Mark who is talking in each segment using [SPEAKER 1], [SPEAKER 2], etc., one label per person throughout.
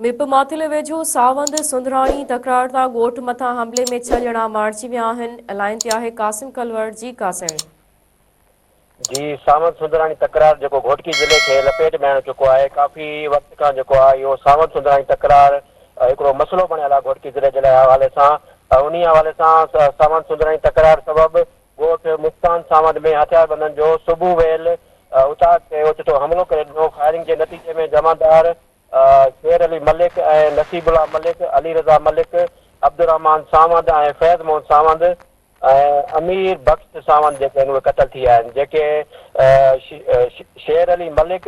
[SPEAKER 1] Map Matheli ويجهو ساوند سنڌراڻي تڪرارتا ڳوٺ مٿان حملي ۾ ڇهه ڄڻا مارجي ويا آهن الائين تي آهي قاسم ڪلوڙ جي ڪا سهڻي.
[SPEAKER 2] جي ساوند سنڌراڻي تڪرار جيڪو گهوٽڪي ضلعي کي لپيٽ ۾ آڻي چڪو آهي ڪافي وقت کان جيڪو آهي اهو ساوند سنڌراڻي تڪرار هڪڙو مسئلو بڻيل آهي گهوٽڪي ضلعي جي لاء حوالي سان انهي حوالي سان ساوند سنڌراڻي تڪرار سبب ڳوٺ مستان ساوند ۾ هٿياربندن جو صبح ويل اتاگ تي اوچتو حملو ڪري ڏنو، فائرنگ جي نتيجي ۾ جمعدار شير علي ملڪ ۽ نصيب الله ملڪ، علي رضا ملڪ، عبدالرحمان ساوند ۽ فيض موهن ساوند ۽ امير بخش ساوند جيڪي آهن اهي قتل ٿي ويا آهن جيڪي شير علي ملڪ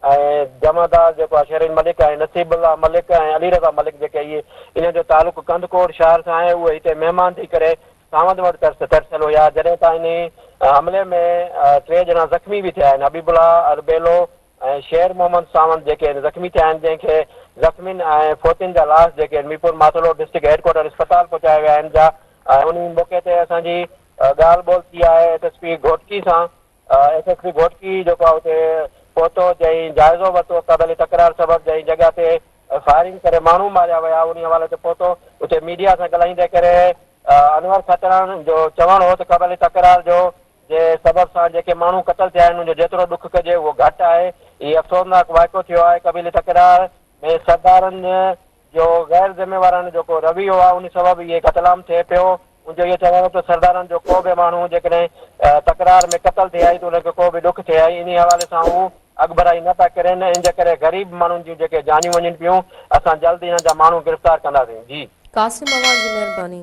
[SPEAKER 2] ۽ جمعدار جيڪو آهي شرين ملڪ ۽ نصيب الله ملڪ ۽ علي رضا ملڪ جيڪي اهي انهن جو تعلق ڪنڌڪوٽ شهر سان آهي اهي هتي مهمان ٿي ڪري ساوند وٽ ترسيل هيا جڏهن ته انهي حملي ۾ ٽي ڄڻا زخمي به ٿيا آهن حبيب الله اربيلو ۽ شير محمد ساوند جيڪي آهن زخمي ٿيا آهن جنهن کي زخمين ۽ فوتين جا لاش جيڪي آهن ميرپور ماٿولو ڊسٽرڪٽ هيڊڪوارٽر اسپتال پهچايا ويا آهن جا انهي موقعي تي اسان جي ڳالهه ٻولهه ٿي آهي ايس ايس پي گهوٽڪي سان ايس ايس پي گهوٽڪي جيڪو آهي اتي پهتو جئين جائزو ورتو قبيلي تڪرار سبب جئين جڳهه تي فائرنگ ڪري ماڻهو ماريا ويا انهي حوالي تي پهتو اتي ميڊيا سان ڳالهائيندي ڪري انور کتڻ جو چوڻ هو ته قبيلي تڪرار جو جي سبب سان جيڪي ماڻهو قتل ٿيا آهن ان جو جيترو ڏک ڪجي اهو گهٽ آهي هي افسوسناڪ واقعو ٿيو آهي قبيلي تڪرار ۾ سردارن جو غير ذميواراڻي جو ڪو رويو آهي ان سبب اهي قتل عام ٿئي پيو ان جو اهو چوڻ هو ته سردارن جو ڪو به ماڻهو جيڪڏهن تڪرار ۾ قتل ٿئي آهي ته ان کي ڪو به ڏک ٿئي آهي انهي حوالي سان هو اڳڀرائي نه پيا ڪرين ان جي ڪري غريب ماڻهن جون جيڪي جانيون وڃن پيون اسان
[SPEAKER 1] جلد
[SPEAKER 2] انهن جا ماڻهو
[SPEAKER 1] گرفتار
[SPEAKER 2] ڪنداسين جي. قاسم اعواڻ جي
[SPEAKER 1] مهرباني.